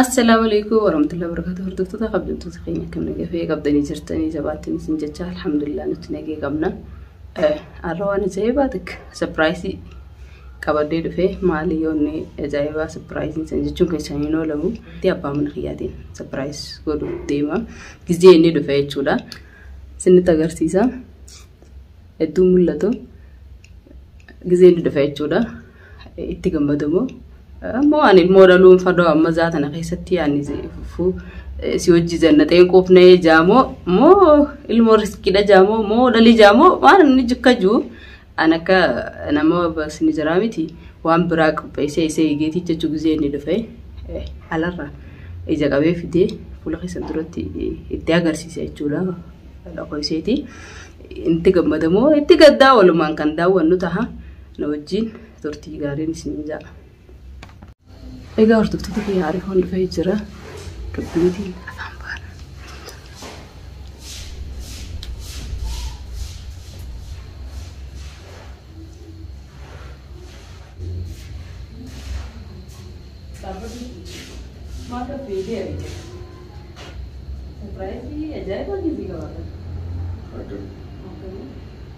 Assalaamu alaikum warahmatullahi wabarakatuh hordoftoota kabajamtoota keenya akkam nagaa fayyaa qabdanii jirtanii jabaattiin isin jecha alhamdulillah nuti nagee qabna har'a waan ajaa'ibaa takka sapiraayisii qabadee dhufee maali yoonni ajaa'ibaa sapiraayisiin san jechuun keessaan hin oolamu itti abbaa mana kiyyaatiin sapiraayis godhuuf deema gizee inni dhufe jechuudha isinitti agarsiisa hedduu mul'atu gizee inni dhufe jechuudha itti gammadu moo ammoo waan ilmoo dhaluun fadoo amma zaa tana keessatti yaani fuu si hojii jannaxeen quufnee jaamoo moo ilmoo riskiidha jaamoo moo dhalii jaamoo waan inni jikka juu an akka nama basni jiraa miti waan biraa qopheessee isee eegeetii jechuu gizee inni dhufe alarra ija qabee fidee fuula keessan duratti itti agarsiise jechuudha dhaqoo iseetii. itti gammadamoo itti gaddaa walumaan kan daawwannu taha. na wajjiin turtii gaariin isin ja'a. Egaa hordoftoota kiyya ariifoon dhufee jira. Dubbiitiin afaan baana. Surprise, ajaa'ibaa gizi gabaabaa. Akkam.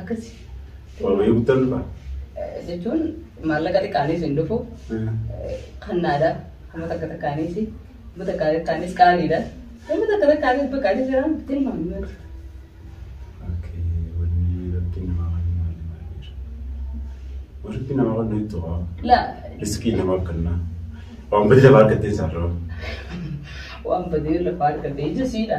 Akkasi. Waaqayyo guddaan dhufa. Jechuun maallaqa xiqqaanis hin dhufu. Kannaadha. Kuma takka takkaanis. Kuma takka takkaanis qaaliidha. Kuma takka takkaanis baqqaanis jira. Tilmaamni miti. Walitti nama kan nuyi tuqa. La Riskii nama kennaa. Waan badii lafaa argattee isaarraa. waan badee lafa argatee jesiidha.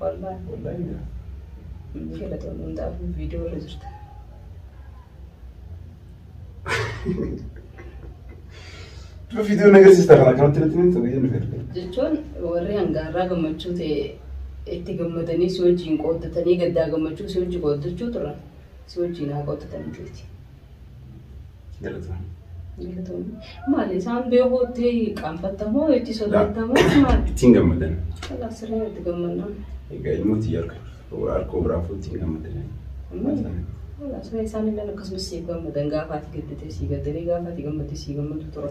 Wallahi wallahi na Inni galatoon hundaafuu viidiyoo irra jirta. Dura viidiyoon agarsiista kana kanatti natti himtu biyya nu fedhe. Jechuun warri hangaarraa gammachuu ta'e itti gammadanii si wajjin qooddatanii gaddaa gammachuu si wajjin qooddachuu turan si wajjin haa qooddatanii tuuti. Galatoon. Galatoonni. Maali isaan beekuutti qaanfattamoo itti sodaattamoo maali? Ittiin gammadan. Kanaaf sirrii itti gammannaa. Egaa ilmooti harka harka biraa fuutti hin gammadan. Kanaaf sirrii isaan illee akkasumas siif gammadan gaafa ati gadditee sii gaddanii gaafa ati gammaddee sii gammadu tura.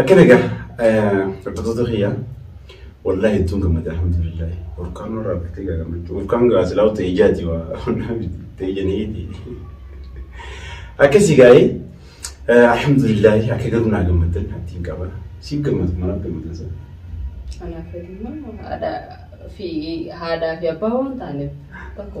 Akkana egaa hordoftoota kiyya wallaahi ittuun gammada alhamdulillah burqaan irraa bittee egaa gammachuu burqaan gaa silaa ta'e ijaati waa honnaa miti ta'e janiiti akkasii gaa'ee alhamdulillah akka garuu naa gammaddan abdiin qaba siif gammadu manaaf gammadan sana. Kanaaf immoo haadhaa fi haadhaa fi abbaa waan taaneef tokko.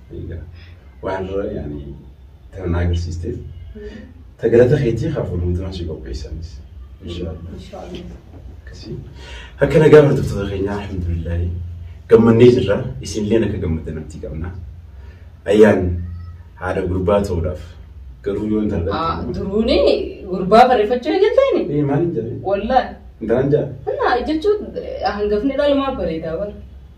Egaa waan irra yaani tana naa agarsiisteef ta galata keetii haa fuudhamu tanaan si qopheessaanis. Inshaallah. Inshaallah. Akkasii. Akka nagaa hordoftoota keenyaa alhamdulillaahi gammannee jirra isinilleen akka gammaddan abdii qabna. Ayyaan haadha gurbaa ta'uudhaaf garuu yoo intala Ah, dhalate. duruuni gurbaa barreeffachuu eegalteeni. Ee maal hin jedhee? Wallahi. Intalaan jaa? Naa jechuun hangafni dhalmaa bareedaa bara.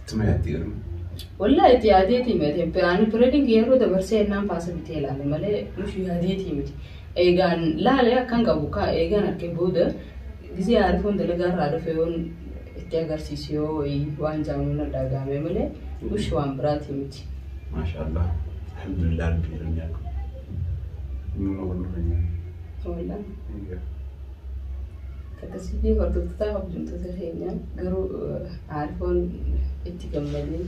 Ittuma yaaddi garuu. Wallaa itti yaadeetii miti. Ani pireedingi yeroo dabarsee ennaan paasa bitee laale malee nufi yaadeetii miti. Eegaan laale akkan qabu kaa eegaan harkee booda gisee aarifoon dalagaa irraa dhufe yoon itti agarsiisu yoo wayii waan jaamu na dhagaame malee nufi waan biraatii miti. Maashaallah. Alhamdulillah rabbi jedhan nyaadhu. Numa wal nurra nyaadhu. Wallaa. Eegaa. Akkasii fi hordoftoota hojjettoota keenya garuu aarifoon itti gammadee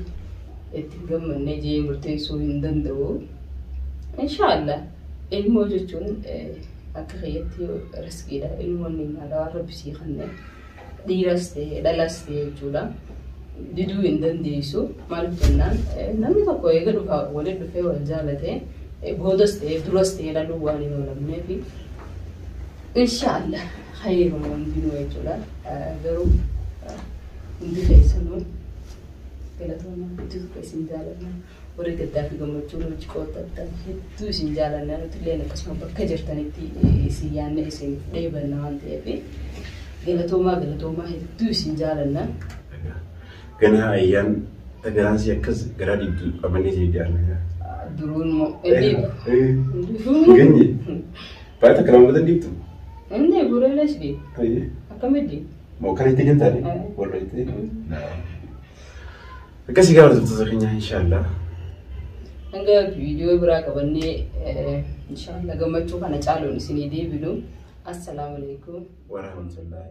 itti hin gammadne jee murteessuu hin danda'u. Inshaallah ilmoo jechuun akka keeyyatti riskiidha. Ilmoon ni'maadha waan rabbi sii kenne. Dhiiras ta'e dhalas ta'e jechuudha. Diduu hin dandeessu. Maaliif jennaan namni tokko eega dhufa waliin dhufee wal jaalate boodas ta'e duras ta'e dhaluu waan hin oolamneef inshaallah hayyama hundinuu jechuudha. Garuu hundi keessanuu galatoomaa itti isin jaalanna. Warri gaddaa fi gammachuu nu wajji qooddattan hedduu isin jaalanna. Nuti illeen akkasuma bakka jirtanitti isin yaannee isiniif dheebanna waan ta'eef galatoomaa galatoomaa hedduu isin jaalanna. Ganaa ayyaan tagaraan si akkas garaa diddu qabannee si didaarna. Duruun moo inni Ganye. Baay'ee takka lama batan dibtu. inni bureelee si deema akkamitti Moo kan itti hin taane. Wallo itti. Akkasii gaafa hojjettoota keenyaa inshaallah. Hanga viidiyoo biraa qabannee inshaallah gammachuu kana caaluun isinii deebinu. Assalaamu alaikum. Warahmatullahi.